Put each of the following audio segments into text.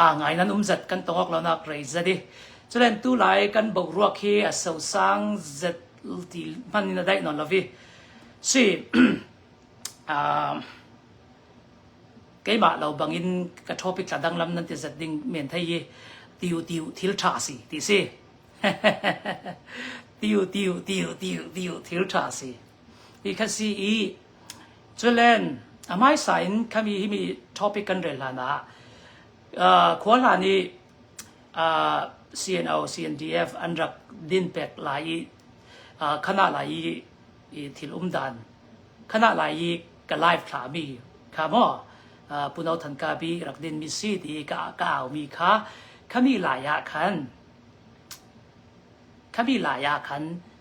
aa ngai nan um zat kan tong awk lonak rei zat i culen tu lai kan boruak hi a sosang zat ti hman in a daih non lovi si keimah lo bangin ka topic la dang lam nan ti zat ding men thai hi tiu tiu thil tha si ti si tiu tiu tiu tiu tiu thil tha si hi kha si i Culen a hmaisa in khami himi topic kan rel hlan ah uh, khua hlan i uh, CNO CNDF an rak din pek lai i uh, khana lai i, i thil um dan khana lai i ka live thla mi kha mo uh, puno than ka bi rak din mi si ti ka ka au mi kha khami lai ah khan khami lai ah khan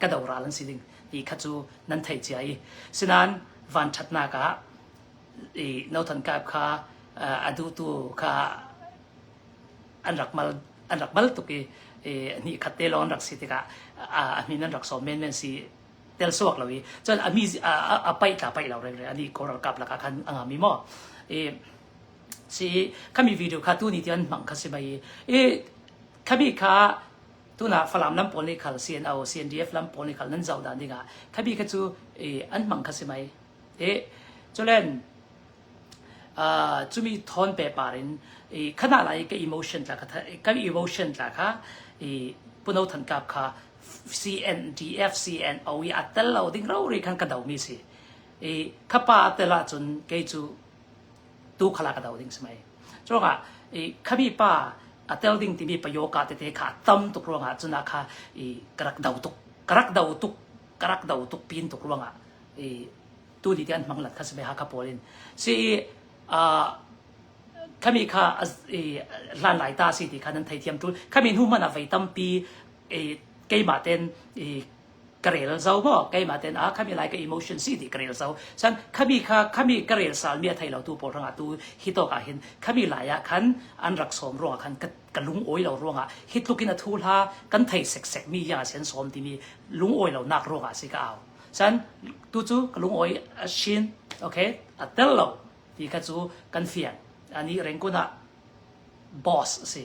ka do ral an si ding ti kha cu nan thei cia i sinan van ṭhatnak ah i nothan kap kha a dutu kha an rak mal an rak mal tuk i ni khat te lon rak si tikah a min an rak som men men si tel suak lo i cun a mi a pai tla pai lo reng re ani koral kap laka khan anga mi mo i si kami video kha tu ni ti an mang kha si mai i kami kha tuna Falam lam pawl nih khal CNO CNDF lam pawl nih khal nan zoh dan dingah khabi kha cu an hmang kha si mai e culen cumi thon pe par in i khana lai ka emotion tla kha ka emotion tla kha i puno than kap kha CNDF CNO i atel lo ding ro ri khan ka do mi si i khapa tela chun kei cu tu khala ka dau ding smai choka i khami pa a tel ding timi pa yoga te te kha tam tuk ruangah cuna kha i karak dau tuk karak dau tuk karak dau tuk pin tuk ruangah i tu ni te an manglat kha sbe ha kha polin si a khami kha hlan lai ta si ti kha nan thei thiam tu khami nu mana vei tampi keima ten ka rel zo maw keimah ten ah khami lai ka emotion si ti ka rel zo chan khami kha khami ka rel sal mi a thei lo tu pawl ranga tu hi to ka hin khami lai ah khan an rak som ruanga khan ka ka lung oi lo ruanga hi tlukin a thu la kan thei sek sek mi ya sen som ti mi lung oi lo nak ruanga si ka au chan tu chu ka lung oi a shin okay a tel lo ti kha chu kan fian ani rengkuna boss si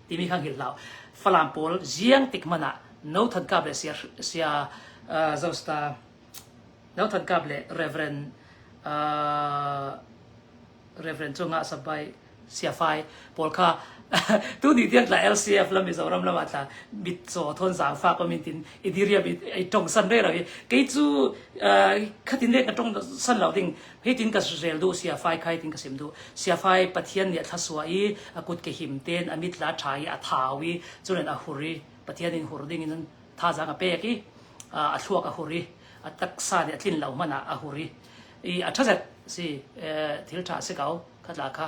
timi kha hngilh hlah. Falam pawl ziang tik hmanh ah no than kap le sia sia uh, Zosta no than kap le Reverend uh, Reverend chunga sabai sia fai pawl kha tu ni tiang tla LCF lam Mizoram lama tla bit so thon zang fa pa min tin idiria bit i tong san re ra hi kei chu khatin le ka tong san lo ding hitin ka suzel du sia fai khai tin ka sim du sia fai pathian nih a thlasua i a kut ke him ten a mit la tha i a thau i chulen a hur i pathian in hur ding in tha zang a pek i a thluak a hur i a taksa nih a tlin lo man ah a hur i i a thazet si thil tha si ko khatla kha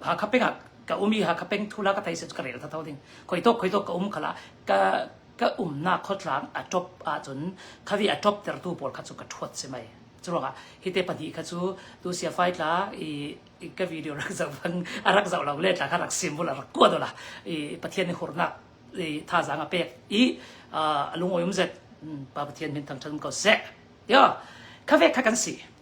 Hakha peng ah ka um i Hakha peng thula ka thai set ka rel thatho ding. Khoi tok khoi tok ka um khala ka ka umnak khotlang a top ahcun khavi a top tertu pawl kha cu ka thuat si mai. Curuangah hi te pahnih kha cu tu sia fai tla i i ka video rak zoh bang a rak zoh lo le tla kha rak symbol a rak kua dola i Pathian ni hurnak i thazang a pek i a lungoyum zet pa Pathian min thang than ko sek yo khawe kha kan si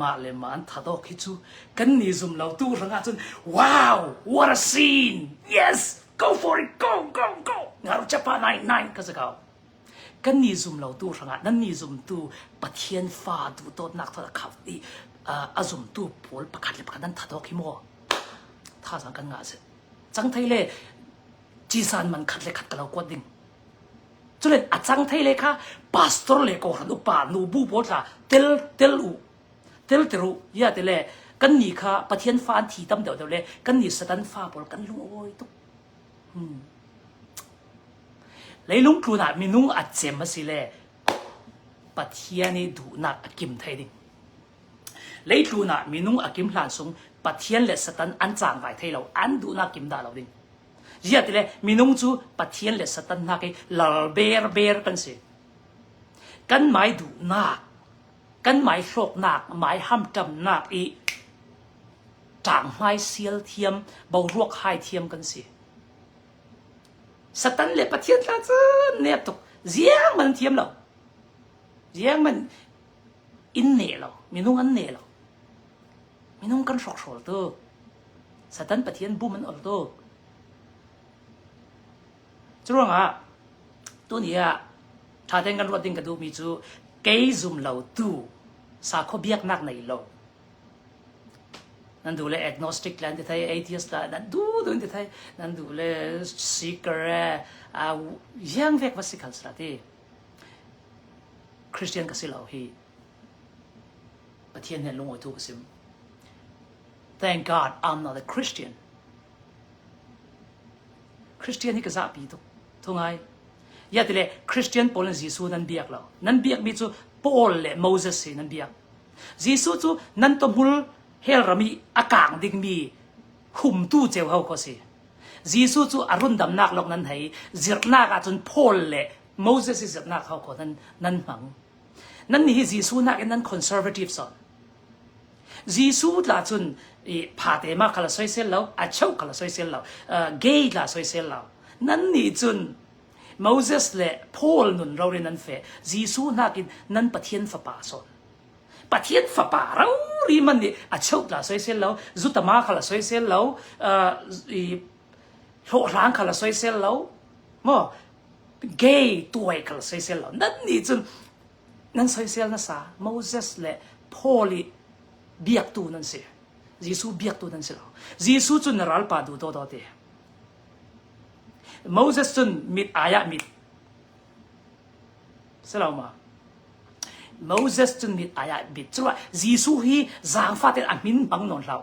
mah le mah an that awk hi cu kan ni zum lo tu hrang ah cun wow what a scene yes go for it go go go ngaru chapa nai nai ka zakau kan ni zum lo tu hrang ah nan ni zum tu pathian fa tu tot nak thol khau ti a zum tu pol pakhat le pakhat nan that awk hi mo tha sang kan nga se chang thai le chi san man khat le khat ka lo kuat ding Culen a cang thei le kha pastor le kawhhran upa nubu pawl kha tel tel u, tel ter u, ya te le kannih kha Pathian fa an thi tam deuh deuh le kannih Satan fa pawl kan lungawi tuk. Hmm. Leilung tlun ah minung a cem a si le Pathian i duhnak a kim thei ding. Leitlun ah minung a kim hlan sung Pathian le Satan an cang vai thei lo, an duhnak kim da lo ding. Ziatile minung cu Pathian le Satan hna ke lal berber kan si. Kan mai duhnak, kan mai hlawknak, mai hamkamnak i tang hmai sial thiam, boruak hai thiam kan si. Satan le Pathian tla cun ne tuk ziang man thiam lo. Ziang man in ne lo, minung an ne lo. Minung kan hrawkhrawl tuk. Satan Pathian bum an ol tuk. Curuangah tuni ah thaten kan ruat ding ka duhmi cu kei zum lo tu sakhaw biaknak nei lo nan du le agnostic la ti thai atheist la nan du dun ti thai nan du le seeker a yang vek va si khal sra ti christian ka si lo hi Pathian he lungawi tu ka si. Thank God I'm not a Christian. Christian hi ka zahpi tuk. Thungai. Yatile Christian pawl in Jesuh nan biak lo. Nan biak mi cu Paul le Moses si nan biak. Jesuh cu nan to hmul hel rami a kang ding mi khumtu ceu hau kho si. Jesuh cu a rundamnak lok nan hei zirnak ahcun Paul le Moses i zirnak hau kho nan nan hmang. Nannih hi Jesuh nakin nan conservatives o. Jesuh tla cun i phate ma kala soisel lo, a cheu kala soisel lo, gay tla soisel lo. Nannih cun Moses le Paul nun rorin nan fe Jesuh nakin nan Pathian fapa son. Pathian fapa rauri man nih a cheu tla soisel lo, zutama kala soisel lo, i hlawhhlang kha la soisel lo maw gay tuai kha la soisel lo nan nih cun nan soisel nasa Moses le Paul i biaktu nan si Jesuh biaktu nan si lo Jesuh cun na ralpa du do do te Moses cun mit ayah mit selo ma Moses cun mit ayah mit cuma Jesuh hi zaangfat in a min bang non hlau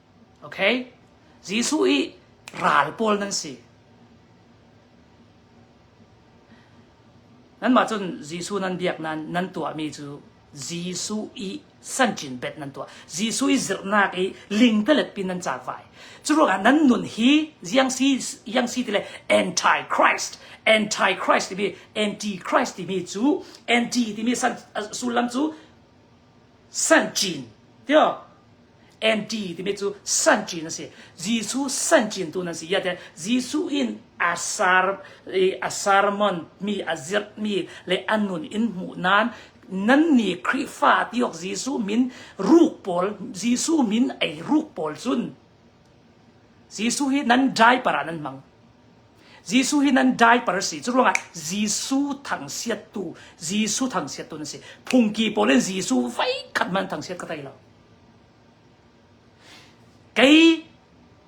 Jesuh hi ral pawl nan si. Nanmah cun Jesuh nan biak nan nan tuahmi cu Jesuh i sancin bet nan tuah. Jesuh i zirhnak i ling teletpi nan cakvai. Cu ruangah nan nun hi ziangsi iangsi ti le antichrist, antichrist timi antichrist timi cu anti timi sullam cu sancin tio anti timi cu sancin a si Jesuh sancin tu nan si ya te Jesuh in a sar i a sermon mi a zirh mi le an nun in hmuh nan nan ni Khrihfa tiok Jesuh min ruk pawl Jesuh min ei ruk pawl cun Jesuh hi nan dai para nan hmang Jesuh hi nan diaper a si. Cu ruangah Jesuh thangsiattu, Jesuh thangsiattu na si. Phungki pawl in Jesuh vai khat man thangsiat ka tei lo. Kei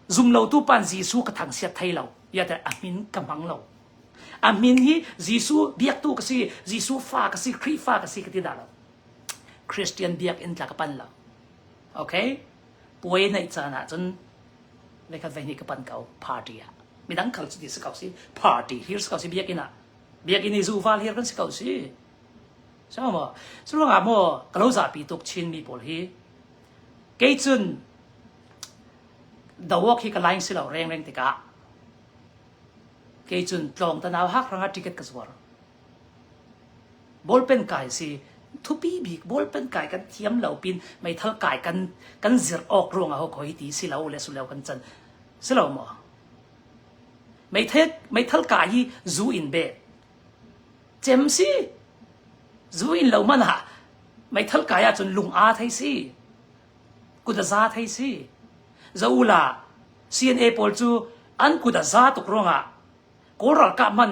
zumlotu pan Jesuh ka thangsiat thei lo. Iate a min ka hmang lo. A min hi Jesuh biaktu ka si, Jesuh fa ka si, Khrihfa ka si ka ti dah lo. Christian biakinn tla ka pan lo. Okay? Puai neih caan ah cun le khat hleihnih ka pan ko party ah midang kal cu ti si ko si party hir si ko si biakinn ah biakinn i zuval hir kan si ko si so maw cu ruangah maw ka lo zapi tuk chinmi pawl hi kei cun dawok hi ka laing si lo rengreng tikah kei cun tlawng tanau hak ranga ticket ka zuar Bawlpen kai a si. Thupi bik bawlpen kai kan thiam lo pin meithal kai kan kan zirh awk ruangah hawk hoi ti si lo le suleu kan can si lo maw? Meithal meithal kai hi zu in beh cem si zu in lo manah meithal kai ahcun lung a thei si kut a za thei si zo ula CNA pawl cu an kut a za tuk ruangah kawl ralkap man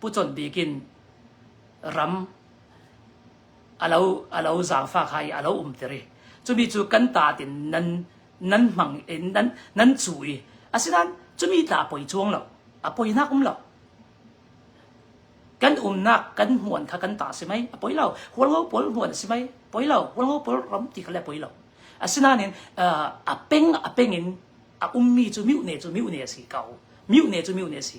pu chawnh bik in ram a lo a lo zaangfa kha i a lo umter i cumi cu kan taat in nan nan hmang in nan nan cu i asinain cumi ta poi chuang lo a poinak um lo kan umnak kan hmuan kha kan ta si mei a poi lo hualho pawl hmuan si mei poi lo hualho pawl ram ti kha le poi lo asinain a peng a peng in a ummi cu miu ne cu miu ne a si ko miu ne cu miu ne a si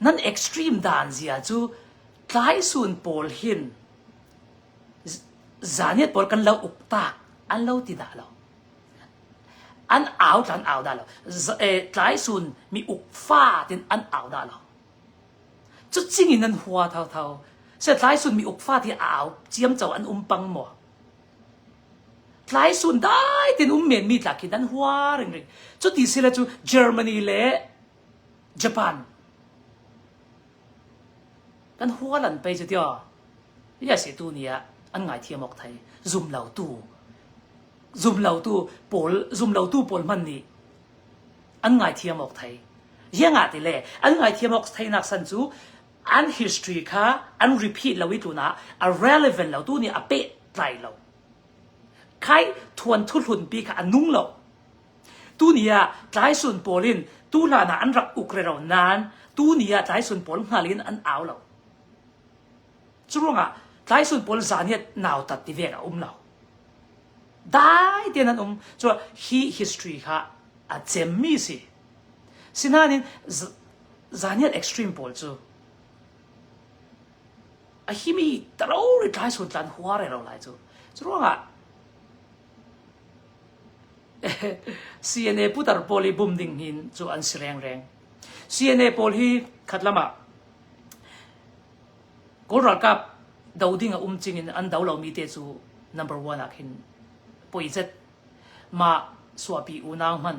Nan extreme daan zia cu tlaisun pawl hin zaniat pawl kan lo uk taak an lo ti dah lo. An au tla an au dah lo. Tlaisun mi ukfat in an au dah lo. Cu cingin an hua thotho. Seh tlaisun mi ukfat hi a au ciam co an um pang maw? Tlaisun dai tein um menmi tla khi nan hua ringring. Cu ti sile cu Germany le Japan kan hua lan pei cu tio ya se tu ni ah an ngai thiam ok thai zum lo tu zum lo tu pawl zum lo tu pawl man nih an ngai thiam ok thai yanga ti le an ngai thiam ok thai nak san cu an history kha an repeat lo i tuna a relevant lo tu nih a peh tlai lo khai thuan thu hlun pi kha a nung lo tu ni ah tlai sun pawl in tu hlan ah an rak uk re ro nan tu ni ah tlai sun pawl ngal in an au lo cu ruangah tlai sun pawl zan hi nau tat ti ve a um lo dai ten an um cu hi history kha a cem mi si Sinain zaniat extreme pawl cu a himi taro ri tlai sun tlan hua re lo lai cu cu ruangah CNA putar pawl i bum ding hin cu an si rengreng CNA pawl hi khat lamah Kawl ralkap do ding a um cing in an do lomi te cu number one ah khin poi zet ma suapi unau man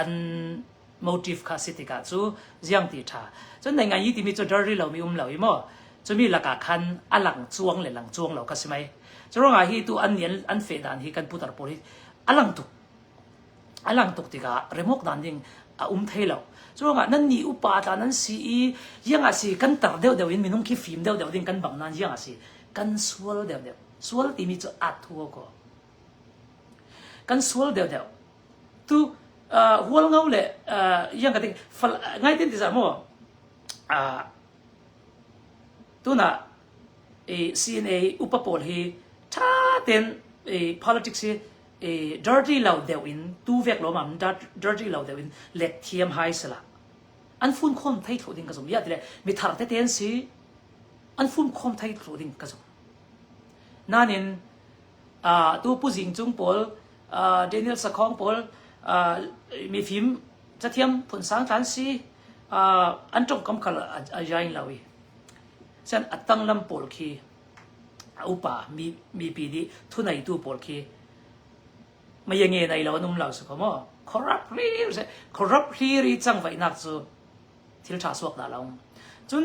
an motive kha si tikah cu ziang ti tha cun nai ngai timi cu dirty lomi um lo i maw cumi lakah khan a lang chuang le lang chuang lo ka si mei curangah hi tu an nian an fe dan hi kan putar pawl hi a lang tuk a lang tuk tikah remok dan ding a um thei lo curangah nan ni upa ta nan si i ianga si kan tar deuh deuh in minung khi fim deuh deuh ding kan bang nan ianga si kan sual deuh deuh sual timi cu at thua ko kan sual deuh deuh tu uh, hual ngo le uh, yang ka ding fal ngai tin ti za mo uh, tuna i CNA upa pawl hi tha ten i politics hi i dirty lo deuh in tu vek lo mam dirty lo deuh in let thiam hai sala an fun khom thai tho ding ka zum ya tile mi thar te ten si an fun khom thai tho ding ka zum nanin atu Pu Zing Cung pawl Daniel Sakhong pawl mifim cathiam phun sang than si an tongkam khal a jain lo i sen a tang lam pawl khi a upa mipi di thunaitu pawl khi maya nge nai lo num lo su ko mo corrupt riri corrupt riri chang vainak cu thil tha suak da long cun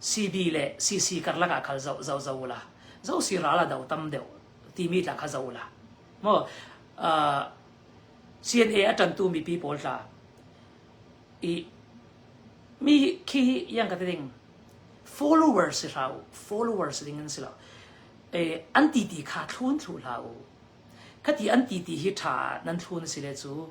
CD le CC karlak ah kal zoh zoh zoh ula zo si ral a do tam deuh timi tla kha zo ula mo uh, CNA a tantu mi pi pawl tla i mi khi yang ka ding followers si hlau followers ding an si lo e an ti ti kha thlun thlu hlau ka ti an ti ti hi tha nan thlun si le chu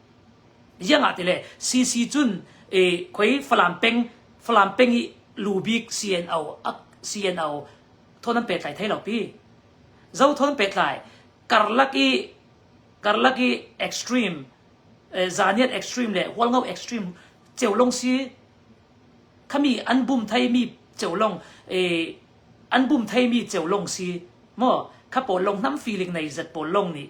Ziangah ti le CC cun e, khoi Falam peng Falam peng i lubik CNO CNO thon an petlai thai lo pi. Zo thon an petlai karlak i karlak i extreme eh, zaniat extreme le hualngo extreme cheulong si khami an bum thai mi cheulong e, an bum thai mi cheulong si mo kha pawl long nam feeling nei zat pawl long ni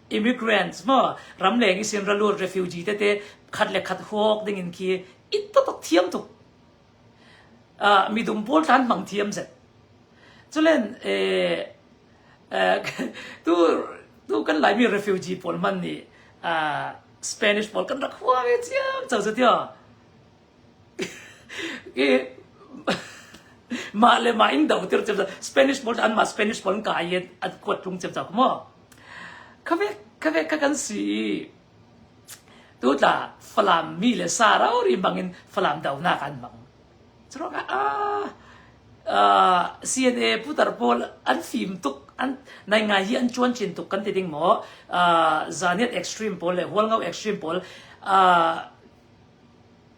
immigrants mo ramleng i sin raluat refugee tete khat le khat huok ding in khi it to tok thiam tuk uh, midum pol than mang thiam zet chulen eh tu tu kan lai mi refugee pol man ni uh, Spanish pol kan rak hua ve chiam chau zatio mah le mah in do tir cem ca Spanish bol an mah Spanish bol ka ai an kuat tlung cem ca kuma khawe khawe ka kan si tu tla falam mi le sa rau ri bangin falam do na kan bang cero ka a CNA putar pol an fim tuk an nai ngai hi an chuan chin tuk kan ti ding mo zaniat extreme pol le hual ngau extreme pol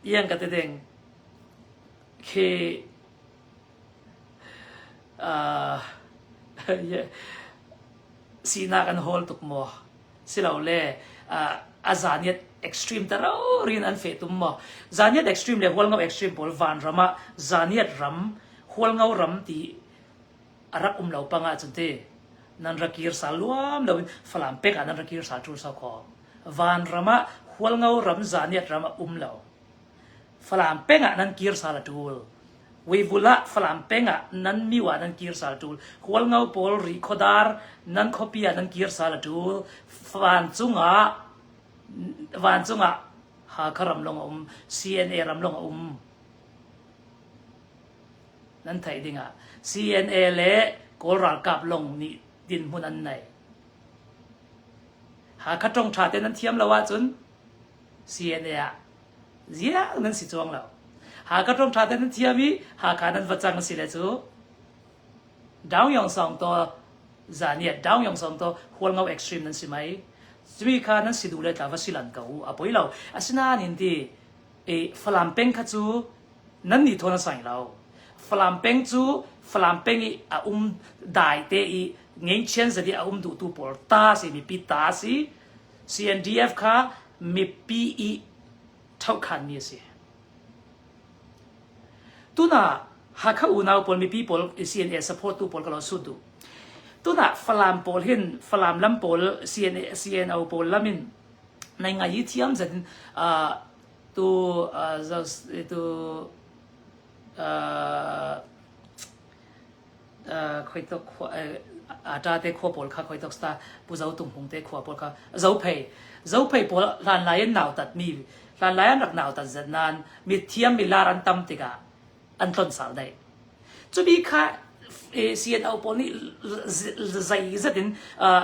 Iang ka ti ding. Khi aa sinak an hawl tuk maw? Silole aa a zaniat extreme ta rauri in an feh tum maw? Zaniat extreme le hualngo extreme pawl vanram ah zaniat ram, hualngo ram ti a rak um lo pang ahcun ti nan ra kir sal luam loin Falam pek ah nan ra kir sal ṭul sau kho. Vanram ah Hualngo ram zahniat ram a um lo. Falam peng ah nan kir sal a ṭul. Weivul ah Falam peng ah nan miu ah nan kir sal a ṭul. Hualngo pawl ri khuadar nan khuapi ah nan kir sal a ṭul. Vancung ah vancung ah Hakha ram lawng a um. CNA ram lawng a um. Nan theih ding ah CNA le Kawl ralkap lawng nih dinhmun an nei. Hakha ṭong ṭha te nan thiam lo ahcun CNA ah ziak nan si chuang lo. Hakha ṭong ṭha te nan thiam i Hakha nan va cang a si le cu Daung Yong Song to zan i Daung Yong Song to hualngo extreme nan si mai. Cumi kha nan si duh le tla va si lan ko u. A poi lo. Asinain ti e Falam peng kha cu nan nih thawn a sang lo Falam peng cu Falam peng i a um dai te i ngengchian zadi a um duhtu pawl ta si mipi ta si CNDF kha mipi i thokhan mi a si tuna Hakha unau pawl mipi pawl CNA support tu pawl ka lo sut du tuna Falam pawl hin Falam lam pawl CNA CNO pawl lamin Nai ngaih i thiam zat in ah tu ah zoh- tu ah ah khoitok khua eh ata te khua pawl kha khoitok sta Pu Zo Tung Hmung te khua pawl kha Zophei Zophei pawl hlan lai an nautat mi hlan lai an rak nautat zat nan mi thiam mi lar an tam tikah an tlon sal dai cu bi kha eh CNO pawl nih z- z- zei zat in ah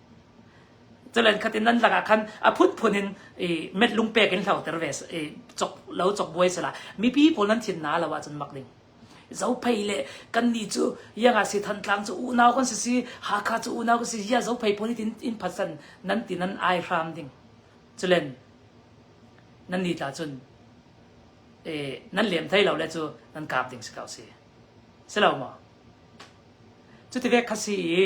Calen khat in nan lak ah khan a phunphun in i met lungpek in hloter ve i cok, lo cokbuai sala mipi pawl nan thin na lo ahcun mak ding. Zophei le kannih cu ianga si Thantlang cu unau kan si si Hakha cu unau kan si ia Zophei pawl nih in phasan nan ti nan ai hram ding. Culen nan ni tla cun e, nan lem thai lo le cu nan kap ding si ko si. Si lo maw? Cuti ve khasi i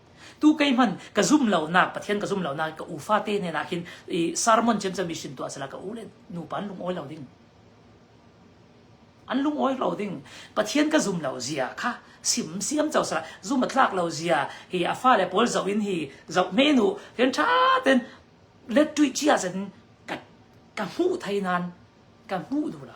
tu kei hman ka zum lonak pathian ka zum lonak ka u fate ne nak hin i sermon chem cha mission tu asala ka u le nu pan lung oi lo ding an lung oi lo ding pathian ka zum lo zia kha sim siam chau sala zum atlak lo zia hi a fa le paul zo in hi zo me nu ken tha ten let tui chia sen ka ka mu thai nan ka mu du lo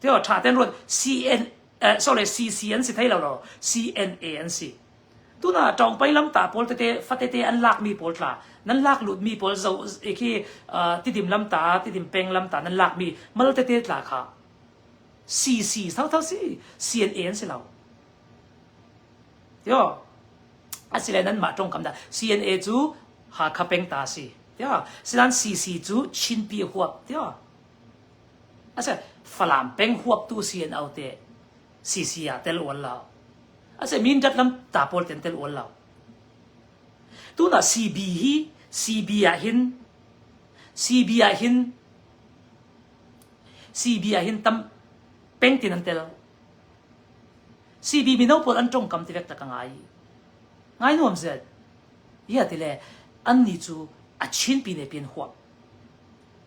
Tio ṭha tein ruat. CCA an si thai lo. CNA an si. Tun ah ṭawngpei lamtah pawl tete, fatete an lakmi pawl tla, nan lak lutmi pawl zo khi tidim lamtah, tidim peng lamtah nan lakmi mal tete tla kha. CC sau thau si, CNA an si lo. Tio, asile nan mah ṭongkam dah. CNA cu Hakha peng ta si. Tio, sinan CC cu Chinpi huap. Tio, Falam peng huaptu si an au te CC ah tel ual lo. Ase Mindat lam ta pawl ten tel ual lo. Tuna CB hi CB ah hin CB ah hin CB ah hin tam peng tin an tel. CB mino pawl an tong kam ti vek tak ngai. Ngai nuam zet. Ia tile an ni chu a chin pine pin huap.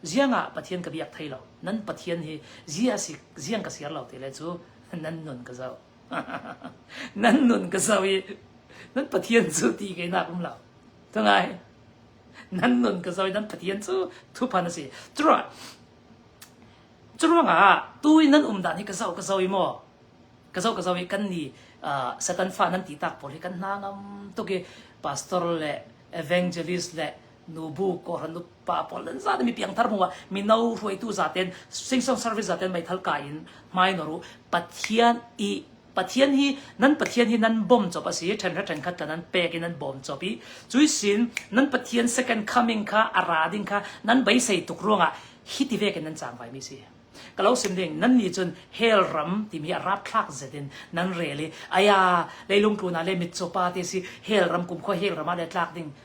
ziangah Pathian ka biak thai lo nan Pathian hi zi asi ziang ka siar lo ti le cu nan nun ka zo nan nun ka zo i nan Pathian cu ti ke nak um lo tungai nan nun ka zo i nan Pathian cu thuphan asi tura curuangah tu in nan um dan hi ka zo ka zo i maw ka zo ka zo i kan ni uh, satan fa nan ti tak pol hi kan na ngam tuki pastor le evangelist le nubu kohran nupa pawl nan za mi piangthar hmuh ah mino hruaitu zaten singsong service zaten meithal kai in mai no ru pathian i pathian hi nan pathian hi nan bom chop asi then ra then khat ka nan pek in nan bom chop i cui sin nan pathian second coming kha ara ding kha nan bai sei tuk ruanga hi ti ve ke nan chang vai mi si ka lo sim ding nan ni chun hell ram ti mi arab thlak zetin nan reli aya leilung tu na le mit chopa te si hell ram kum kho hell rama le tlak ding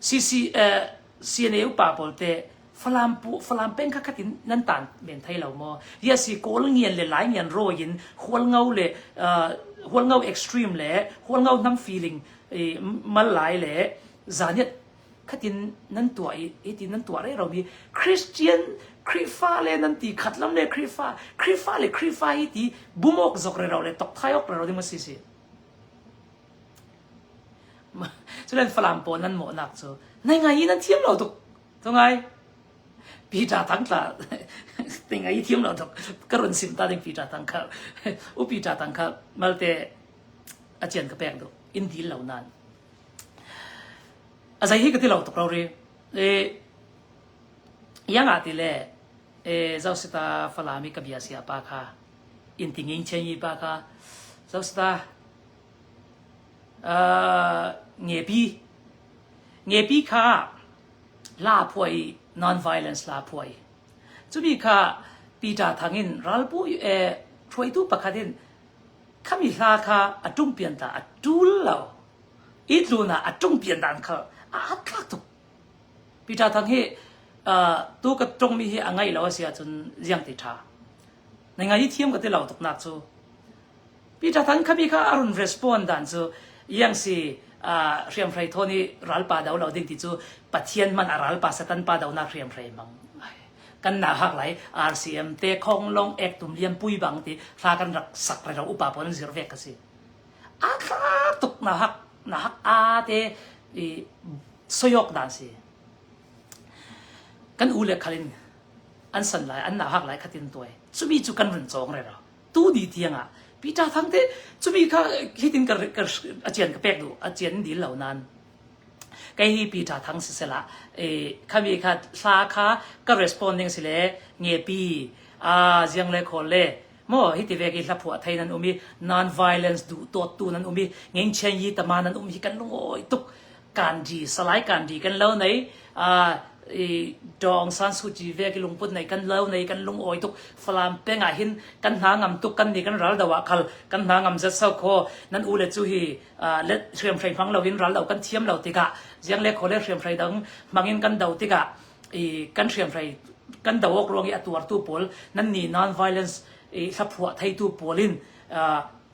CNA upa pawl te Falam peng kha khat in nan tan men thai lo maw? Yes hi kawl ngian le lai ngian rawi in hualngo le hualngo extreme le hualngo nam feeling mal lai le zaniat khatin nan tua i iti nan tua re romi Christian Krifa le nan ti khat lam le Krifa Krifa le Krifa hi ti bumok zok re ro le tok thai ok re ro ding ma si si Culen Falam pawl nan mawhnak cu nai ngai i nan thiam lo tuk. Tu ngai. Peter Thang tla nai ngai i thiam lo tuk. Ka run sim ta ding Peter Thang kha. U Peter Thang kha malte acian ka pek du. In dil lo nan. A zei hi ka ti lo tuk ro ri. E yang ati le e zausita Falam i ka bia sia pa kha. In tinging chen i pa kha zausita Ngepi, ngepi kha laphuai non-violence laphuai. Cumi kha Peter thang in ralpu hruaitu pakhat in khami hla kha a ṭung pian ta a ṭul lo. I tlun ah a ṭung pian dan kha a atthlak tuk. Peter thang hi tu ka ṭungmi hi a ngaih lo a si ahcun ziang ti ṭha. Na ngaih i thiam ka ti lo tuk nak cu. Peter Than khabi kha a run respond dan cu iang si hriamhrei thawn i ralpa do lo ding ti cu Pathian man a ralpa Satan pa donak hriamhrei mang kan na hak lai RCM te khong long ek tum liam pui bang ti hla kan rak sak re ro upa pon zir ve ka si a thla tuk na hak na hak a te i soyok dan si kan u le khalin an san lai an na hak lai khatin tuai chumi chu kan run chong re ro tu di tiang ah Peter thang te chumi kha hitin ka a chian ka pek du a chian dil lo nan kei hi Peter thang si sela e khami kha hla kha ka responding si le nge pi a ziang le khol le mo hi ti ve ki hla phua thai nan umi non violence du tot tu nan umi ngeng chen yi tama nan um hi kan lung oi tuk kanji salai kanji kan lo nei i dong san su chi ve ki lungput nei kan lo nei kan lung oi tuk falam penga hin kan hna ngam tuk kan ni kan ral dawa khal kan hna ngam zat sau kho nan u le chu hi let hriam hrai phang lo in ral lo kan thiam lo tika jiang le khole hriam hrai dang mangin kan do tika i kan hriam hrai kan do ok rong i atuar tu pol nan ni non violence i thlaphuwa thai tu polin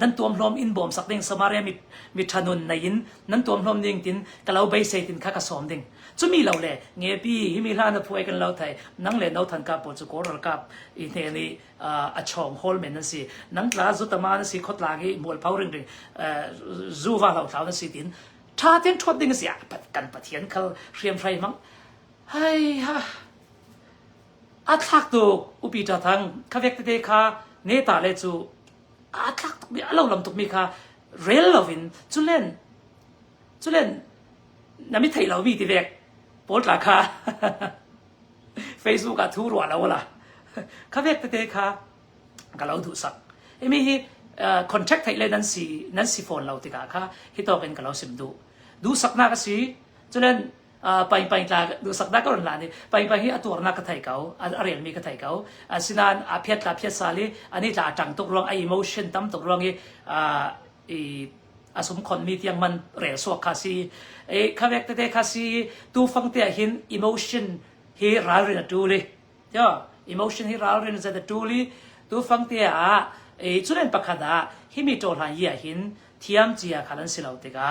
nan tuam hlawm in bawm sak ding Samaria mi mi thanun nei in nan tuam hlawm ding tin ka lo bei sei tin kha ka som ding chumi lo le nge pi hi mi hlan a phuai kan lo thai nang le no than ka po chu koral kap i ne ni a chong hol men an si nang tla zu tama na si khot la gi mul phau ring ring zu va lo thau na si tin tha ten thot ding sia kan pathian khal hriam hrai mang hai ha A thlak tuk upi ṭha thang kha vek tete kha ne ta le cu a thlak tukmi a lo lam tukmi kha rel loin culen culen na mi theih lomi ti vek pawl tla kha Facebook ah thu rua lo la kha vek tete kha ka lo duhsak imi hi uh, contact thei le nan si nan si phone lo tikah kha hi tawkin ka lo sim duh duhsaknak a si culen paipai tla duhsak da ko la ni paipai hi atuarnak ka thei ko a relmi ka thei ko asinain a phiat tla phiat sal i ani tla tang tuk ruang a emotion tam tuk ruang i i asum khon mi tiang man rel suak kha si e khawek te kha si tu fang te hin emotion hi ral rin a tu li yo emotion hi ral rin za da tu li tu fang te a e chulen pakhat a hi mi to hla ia hin thiam chia khalan silo te ga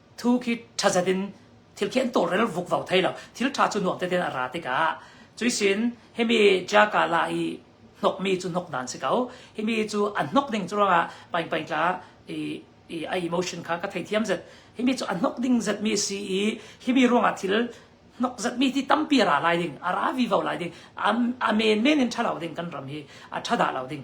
thu khi thazet in thil khi an tawlrel vukvau thei lo thil tha cu nuam teten a ra tikah cuisin himi jaka la i hnokmi cu hnok nan si ko himi cu an hnok ding cu ruangah paingpaing tla i i a emotion kha ka thei thiam zet himi cu an hnok ding zet mi si i himi ruangah thil nok zat mi ti tampi ra lai ding ara vi vau lai ding a men men in tha lo ding kan ram hi a tha da lo ding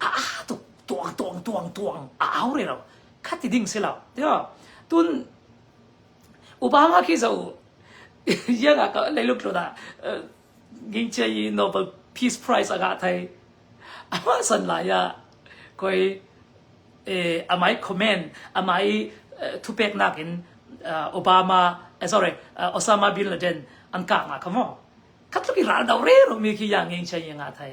a aa tuk tuang tuang tuang tuang a au re lo khat ti ding si lo tiyo tun upa nga khi zo yang a ka lei luk lo da ging che yi Nobel Peace Prize aga thai ama san la ya koi eh amai comment amai thu pek nak in Obama sorry Osama bin Laden an ka nga kamo khat lu ki ral dau re ro mi khi yang ging che yi nga thai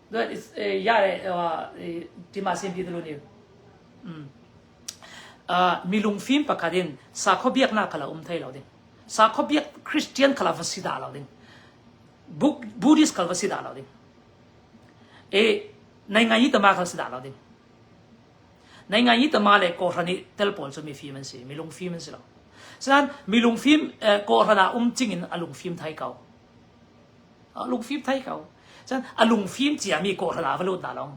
timahsin bi dulu ni milung fim pakhat in sakho biaknak kala um thai lo ding sakho biak christian kala va si da lo ding buddhist kala va si da lo ding e nai ngai tama kala si da lo ding nai ngai tama le ko rani tel pol chu mi fim an si milung fim an si lo san milung fim ko rana um ching in alung fim thai kau lungfim thai ko cun a lungfim ciami kawhhran ah va lut hna long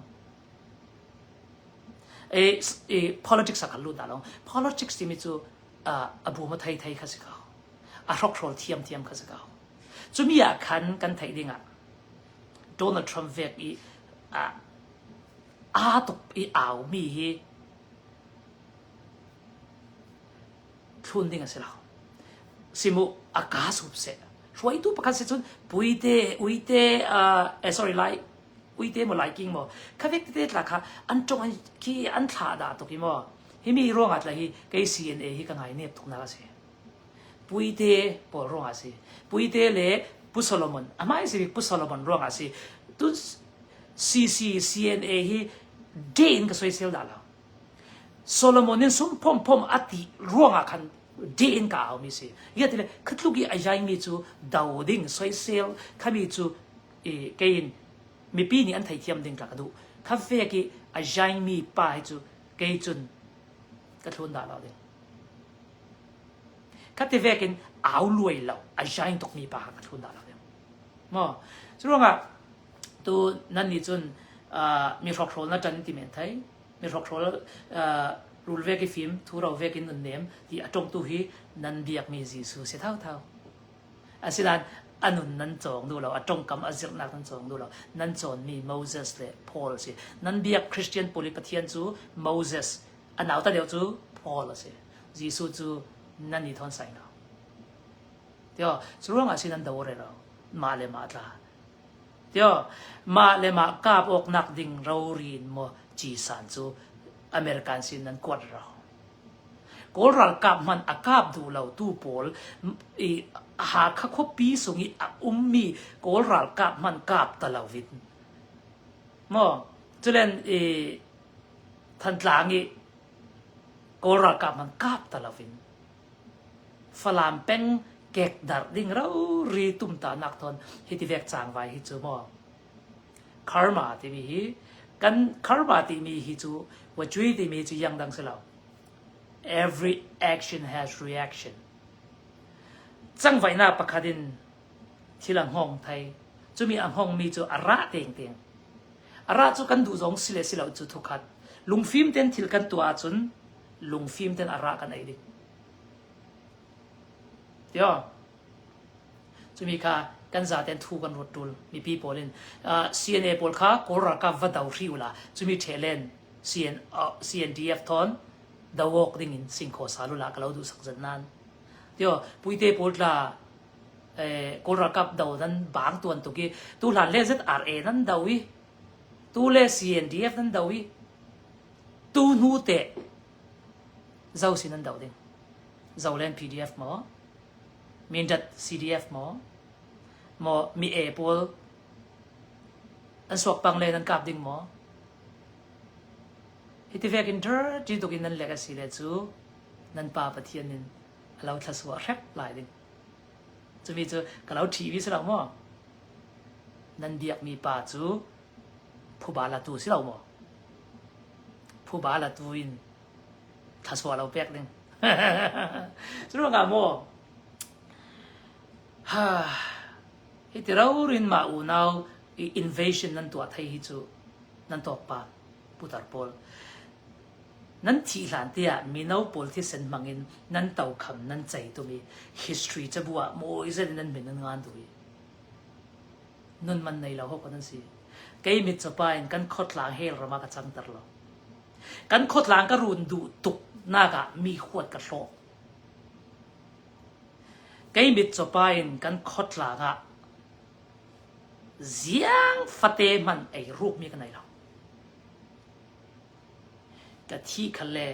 e, e, politics a kan lut hna long politics timi cu a bum a thei thei kha si ko a hrokhrol thiam thiam kha si ko cumi ah khan kan theih ding ah Donald Trump vek i aa tuk i aumi hi thlun ding a si lo simu a ka sup se hruaitu pakhat si cun puite uite uh, eh, sorry lai uite mo lai king mo khavek te tla kha an tong khi an thla da to ki mo hi mi ruanga tla hi kei CNA hi ka ngai ne tuk na si puite pol ruanga si puite le pu Solomon amai si pu Solomon ruanga si tu CC CNA hi de in ka soi sel da la Solomon in sum phomphom a ti ruangah khan deh in ka aumi si. Ia tile khatluk i a yaimi cu do ding, soisel, khami cu i kein mipi nih an theithiam ding ka ka duh. Kha fek i a yaimi pa hi cu kei cun ka thlun dah lo ding. Ka ti vekin au luai lo, a yain tukmi pa kha ka thlun dah lo ding. Mo, cu ruangah tu nan nih cun ah mihrokhrol na ṭan ti men thei. Mihrokhrol ah rul vek i fim, thuro vek in nun nem ti a ṭongtu hi nan biakmi Jesuh si thauthau. Asilan a nun nan cawng duh lo, a ṭongkam a zirhnak nan cawng duh lo. Nan cawnmi Moses le Paul si. Nan biak Christian pawl i Pathian cu Moses, a nauta deuh cu Paul a si. Jesuh cu nan i thawn sai lo. Tio, cu ruangah si nan do re lo. Mah le mah tla. Mah le mah kap awknak ding rori in maw cisan cu American sin nan kuat ro? Kawl ralkap hmanh a kap duh lotu pawl i Hakha khuapi sung i a ummi Kawl ralkap hmanh kap ta lo in. Maw culen i Thantlang i Kawl ralkap hmanh kap ta lo in. Falam peng kekdarh ding rori tumtanak thawn hi ti vek cang vai hi cu maw karma timi hi kan karma timi hi cu wacui timi cu yang dang si lo every action has reaction cang vaina pakhat in thil a hngawng thai. Cumi a hngawngmi cu a ra tengteng. A ra cu kan duh zong si le si lo cu thukhat. Lungfim ten thil kan tuah ahcun lungfim ten a ra kan ei dik. Tio. Cumi kha kan zaten thu kan rot tul mipi pawl in uh, CNA pawl kha kawl ralkap va do hri ula cumi thelen CN, uh, CNDF thon dawok ding in sing kho salula kalau du sak zan nan tio puite pawl tla Kawl ralkap do nan bang tuan tuk i tuhlan le ZRA nan do i tu le CNDF nan do i tu hnu te zo si nan do ding zo len PDF maw Mindat CDF maw maw mi e pawl an suak pang le nan kap ding maw hi ti vek in dir ti tuk in nan lek a si le cu nan pa pathian in a lo thlasuah hrep lai ding cumi cu ka lo ṭhi vi si lo maw nan biakmi pa cu phuba latu si lo maw phuba latu in thlasuah lo pek ding cu ruangah maw ha hi ti rorin mah unau i invasion nan tuah thai hi cu nan tawk pa putar pawl nan thih hlan tiah mino pawl thisen hmang in nan tokham nan cei tum i history cabu ah mawi zen in nan min an ngan duh i nun man nei lo hok nan si kei mit chawpa in kan khotlang hel rama ka chang ter lo kan khotlang ka run duh tuk nak ah mi huat ka hlo kei mit chawpa in kan khotlang ah Ziang fate hmanh eirukmi ka nei lo. Ka thih kha le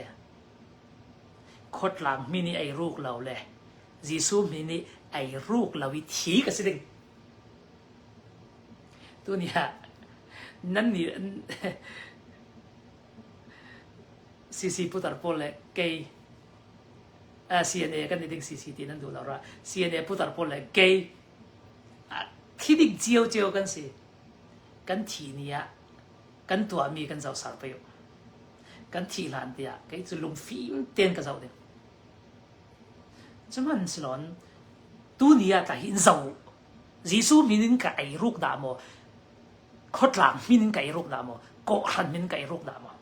khuatlang mi nih eiruk lo le Jesuh mi nih eiruk lo i thi ka si ding. Tuni ah nannih CC putar pawl le kei CNA kan i ding CC ti nan duh lo rua. CNA putar pawl le kei Thi ding ciocio kan si. Kan thi ni ah kan tuahmi kan zohser pei u. Kan thih hlan tiah kei cu lungfim tein ka zoh ding. Cuman si lawn, tu ni ah tla hin zo u. Jesuh min in ka ei ruk dah maw, khotlang min in ka ei ruk dah maw, kawhhran min in ka ei ruk dah maw.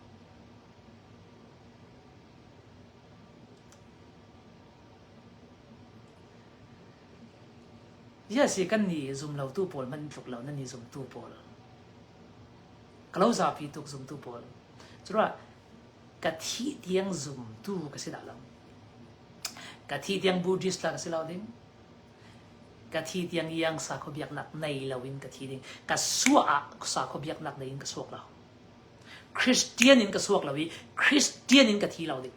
Yes, hi kan nih zumlotu pawl hmanh tluk lo nan nih zumtu pawl. Ka lo zapi tuk zumtu pawl. Cura ka thi tiang zumtu ka si dah lo. Ka thi tiang Buddhist la ka si lo ding. Ka thi tiang yang sa kho biak nak nei lo in ka thi ding. Ka sua ah sa kho biak nak nei in ka suak lo. Christian in ka suak lo i Christian in ka thi lo ding.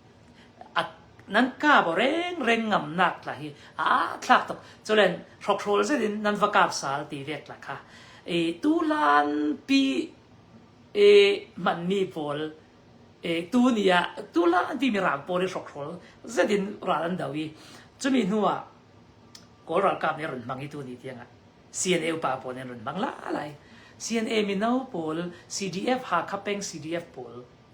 nan ka baw rengreng ngam nak tla hi a thlak tuk. Culen hrokhrol zet in nan va kap sal ti ve tla kha. I tulan pi i manmi pawl i tu ni ah tulan ti mi rang pawl i hrokhrol zet in ral an do i cumi hnu ah Kawl ralkap nih run hmang i tu ni tiang ah CNA upa pawl nih run hmang la lai. CNA mino pawl CDF Hakha peng CDF pawl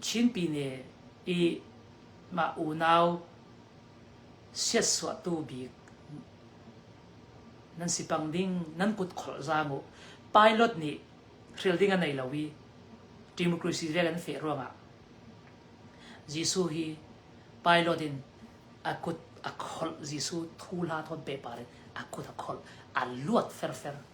Chinpine i mah unau siatsuahtu bik nan si pang ding nan kut kholh zang u. Pilot nih thil ding a nei lo i democracy rel an feh ruangah Jesuh hi pilot in a kut a kholh Jesuh thu hla thawn pe par in a kut a kholh a luat ferfer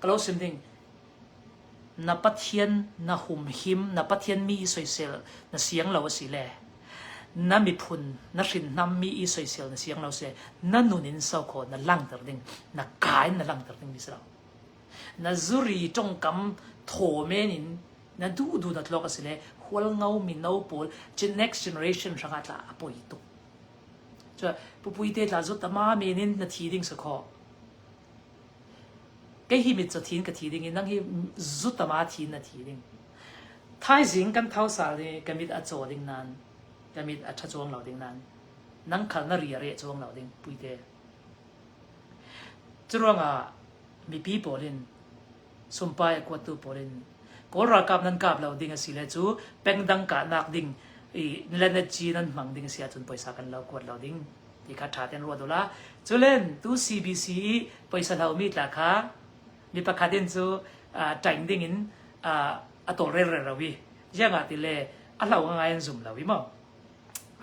Ka lo sim ding. Na Pathian na humhim, na Pathian mi i soisel na siang lo a si le na miphun, na hrinhnam mi i soisel na siang lo si na nun in sau kho na langhter ding, na ka in na langhter ding mi si lo. Na zuri tongkam thomen in na du du na tlok a si le hual ngau mino pawl next generation hranga tla a poi tuk. Cua, pupui te tla zut tama men in na thi ding sa kho. Kei hi mit cu thin ka thi ding i nang hi zutama thin na thi ding. Thaizing kan thau sal i ka mit a caw ding nain ka mit a ṭha chuang lo ding nain nang khal na ri a reh chuang lo ding puite. Curuangah mipi pawl in Sumpai kuatu pawl in Kawl ralkap nan kap lo ding a si le cu pengdang kahnak ding i Lenetci nan hmang ding a si ahcun poisa kan lo kuat lo ding ti kha ṭha tein ruat ula. Culen tu CBC i poisa lomi tla kha mi pakhat in cu uh, ṭaing ding in uh, a tawlrelre lo i ziangah ti le a hlau ngai an zum lo i mo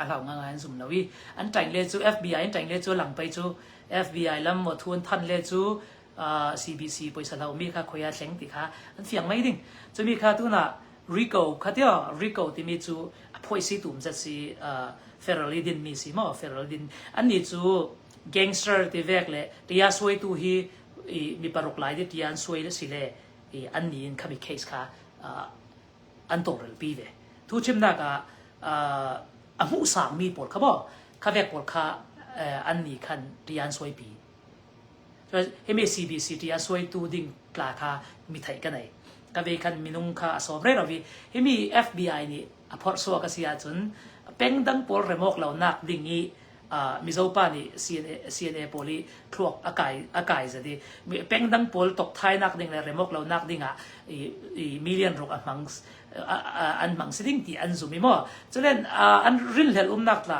a hlau ngai an zum lo i an ṭaing le cu FBI in ṭaing le cu langpei cu FBI lam maw thun than le cu uh, CBC poisa lo mi kha khoia thleng ti kha an fiang mai ding chumi kha tuna rico khatio rico timi chu a phoisi tum zat si uh, federally din mi si mo federal din an ni chu gangster ti vek le tia suai tu hi i mi paruk lai di tia an suai le si le i an ni in khami case kha uh, an togrel pi ve thu chim na ka uh, a mu sang mi pol kha bo kha vek pol kha uh, an ni khan tia an suai pi MACDCT a suaitu ding tla kha mi theih ka nei ka ve khan minung kha a sawm re lo vi himi FBI nih a phorh so ka si ahcun pengdang pawl remok lo nak ding i mizopa nih CNA pawl i thluak a kai a kai zadi mi pengdang pawl tok thai nak ding le remok lo nak ding ah i million ruk a hmang an hmang si ding ti an zum i mo culen an rinhlel umnak tla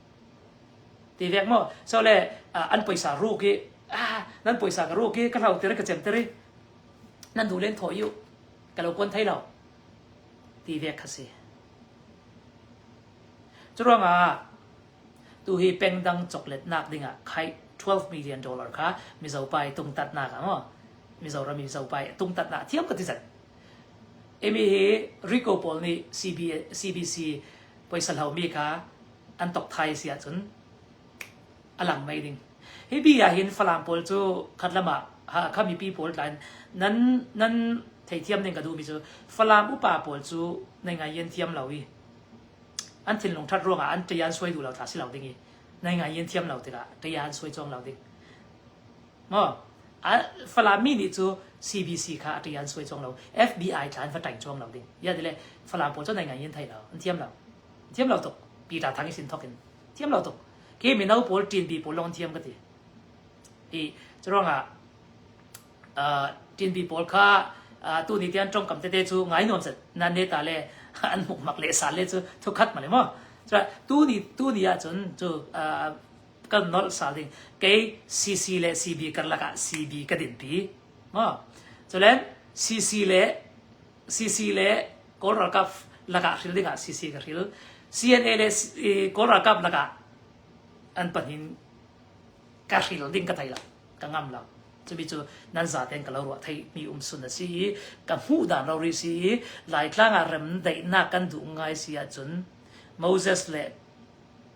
ti dek maw so le an poisa ruk i ah nan poisa ka ruk i ka hlau tir ka chem tir i nan du len thaw iu ka lo kuan thei lo ti dek kha si cu ruangah tu hi pengdang choklet nak dingah khai 12 million dollar kha mizopai tungtat nak amaw mizoram mizopai tungtat nak thiam ka ti zat emi hi rico paul nih CBC poisa hlaumi kha an tok thai si ahcun a lang mai ding hi bi ah hin falam pawl cu khat lam ah kha mipi pawl tlain nan nan theithiam ding ka duhmi cu falam upa pawl cu nai ngai yen thiam lo i an thinlung that ruangah an ṭei an suai duh lo tha si lo ding i nai ngai yen thiam lo tikah ṭei an suai chuang lo ding Falami nih cu CBC kha a ṭi an suai cuang lo. FBI thla an va ṭaing cuang lo ding. Ia ti le Falam pawl cu nai ngai in thei lo. An thiam lo. Thiam lo tuk. Peter Thang i sin thok in. Thiam lo tuk. Khi mino pawl, ṭinpi pawl lawng an thiam ka ti. I curuangah ṭinpi pawl kha tu ni tian ṭongkam tete cu ngai nuam set nan ne ta le an mukmak le sal le cu thu khat ma le maw. Tu ni tu ni ahcun cu kan nolh sa ding kei CC le CB karlak ah CB ka dinpi maw culen CC le CC le Kawl ralkap lakah hril dingah CC ka hril CNA le Kawl ralkap lakah an pahnin ka hril ding ka thei lo ka ngam lo cubi cu nan za ten ka lo ruah thei mi um sun a si i ka hmuh dan lo ri si i laitlang ah rem daihnak kan duh ngai si ahcun Moses le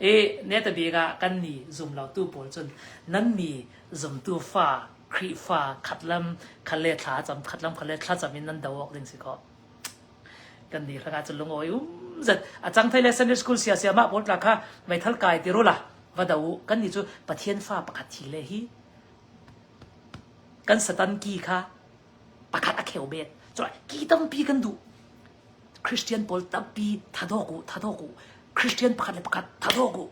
E ne te bik ah kan ni zum lo tu pawl cun nan ni zumtu fa Khrihfa khat lam khat le thla cam khat lam khat le thla cam in nan do awk ding si ko kan ni hranga cu lungawi um zat a chang thai le Sunday school sia sia ma pol tla kha mai thal kai ti rola va do kan ni chu pathian fa pakhat thi le hi kan satan ki kha pakhat a kheu bet choi ki tampi kan du Christian pawl tampi thatawk u, thatawk u. Christian pakhat le pakhat thatawk u.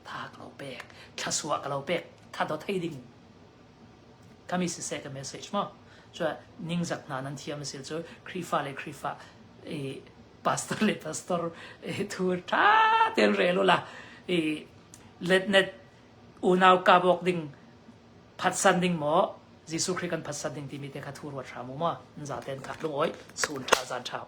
Tha ka lo pek. Thlasua ka lo pek. Thato thei ding. Kami siseh ka message mo. Cua ningzak hna nan thiam sil cu Krifa le Krifa eh, pastor le pastor eh, thur tha ten re lo la. Eh, let net unau ka bok ding Phatsan ding maw Jesuh Khrih kan phatsan ding timi te kha thu ruat hram u maw. Nza tein kha tlung oi, suun ṭha, zaan ṭha.